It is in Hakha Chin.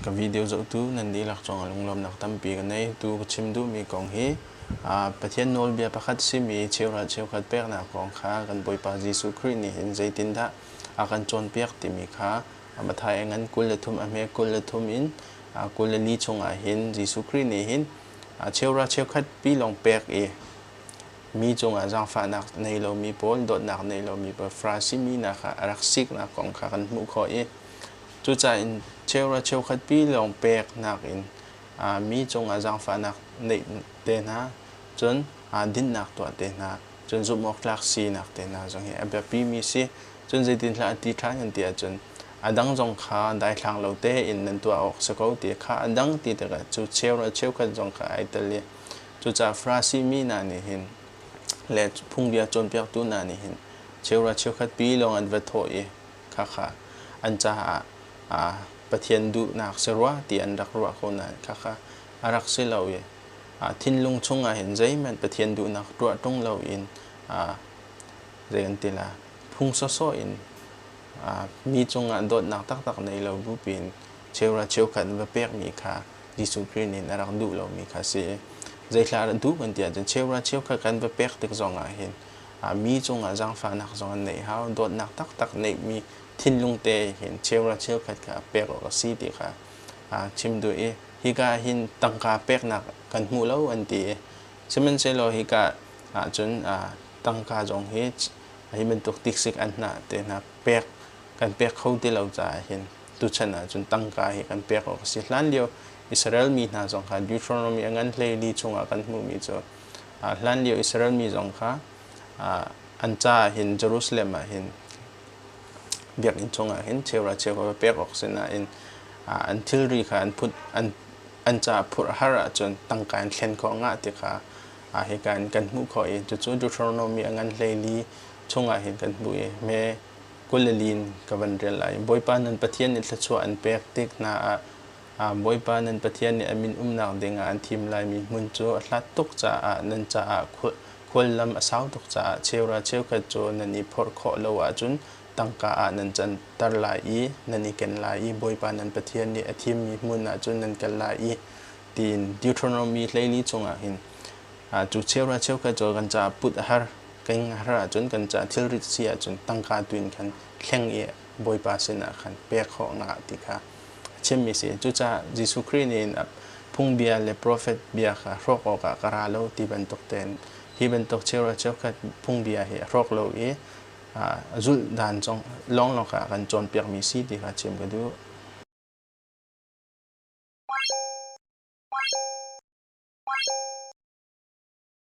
ka video zohtu nan dihlak cungah lunglawmnak tampi ka nei. Tu ka chim duhmi kong hi Pathian nawlbia pakhat simi cheukhat cheukhat peknak kong kha kan Bawipa Jesuh Khrih nih hin zeitindah a kan cawnpiak timi kha Matthai ngan kul le thum a hme kul le thum in kul le li chungah hin Jesuh Khrih nih hin cheukhat cheukhatpi lawng pek i mi cungah zaangfahnak nei lomi pawl dawtnak nei lomi pawl Farasi mi hna kha a rak siknak kong kha kan hmuh khawh i Cucaah in cheukhat cheukhat pi lawng peknak in mi cungah zaangfahnak neih te hna, cun dinnak tuah te hna, cun zumhawktlak sinak te hna zong hi a biapimi si. Cun zeitinhlah a ti ṭhan kan ti ahcun a dang zong kha daithlang lo tein nan tuah awk si ko ti kha a dang ti tikah cu cheukhat cheukhat zong kha ai tel i cucaah Farasi mi hna nih hin le phungbia cawnpiaktu hna nih hin cheukhat pi lawng an va thawh i Khakha an caah Pathian duhnak si rua ti an rak ruah ko nain khakha a rak si lo i thinlung chungah hin zeihmanh Pathian duhnak tuah ṭung loin zei kan ti la phung sawsawh in mi cungah dawtnak taktak nei lo bupi in cheura cheukhat va pekmi kha Jesuh Khrih nih a rak duh lomi kha a si i zeithla dah duh kan ti ahcun cheura cheukhat kan va pek tik zongah hin mi cungah zaangfahnak zong an neih hau. Dawtnak taktak neihmi thinlung te hin cheukhat cheukhat kha pek awk a si ti kha aa chim duh i hika ah hin tangka peknak kan hmu lo an ti i sihmanhsehlaw hika ah cun tangka zong hi hi bantuk tiksik an hna te hna pek kan pek kho ti lo caah hin tuchan ah cun tangka hi kan pek awk a si hlan lio Israel mi hna zong kha Deuteronomy a ngan hlei li chungah kan hmuhmi cu hlanlio Israel mi zong kha an caah hin Jerusalem ah hin biakinn chungah hin cheuhra cheuhra va pek awk sinain an thilri kha an put an caah phurh har ahcun tangka in thlen khawh ngah ti kha hika in kan hmuh khawh i cucu Deuteronomy a ngan hlei chungah hin kan hmuh i me kul le lin ka van rel lai i Bawipa nan Pathian nih thluachuah an pek tik hna ah Bawipa nan Pathian nih a min umnak ding ah an thim laimi hmun cu a hlat tuk caah nan caah khuallam a sau tuk caah cheura cheukhat cu nan i phorh khawh lo ahcun tangka ah nan canter lai i nan i ken lai i Bawipa nan Pathian nih a thimmi hmun ah cun nan kal lai i tiin Deuteronomy hleili chungah hin cu cheura cheukhat cu kan caah put a har kan har ahcun kan caah thilrit si ahcun tangka tu in khan thleng i Bawipa sinah khan pek khawh nga ti kha a chimmi si. Cucaah Jesuh Khrih nih phungbia le profet bia kha hrawk awkah ka ra lo ti bantuk tein hi bantuk cheuhra cheukhat phungbia hi a hrawk lo i a zulhdan zong lawnglawng ah kan cawnpiakmi si ti kha chim ka duh.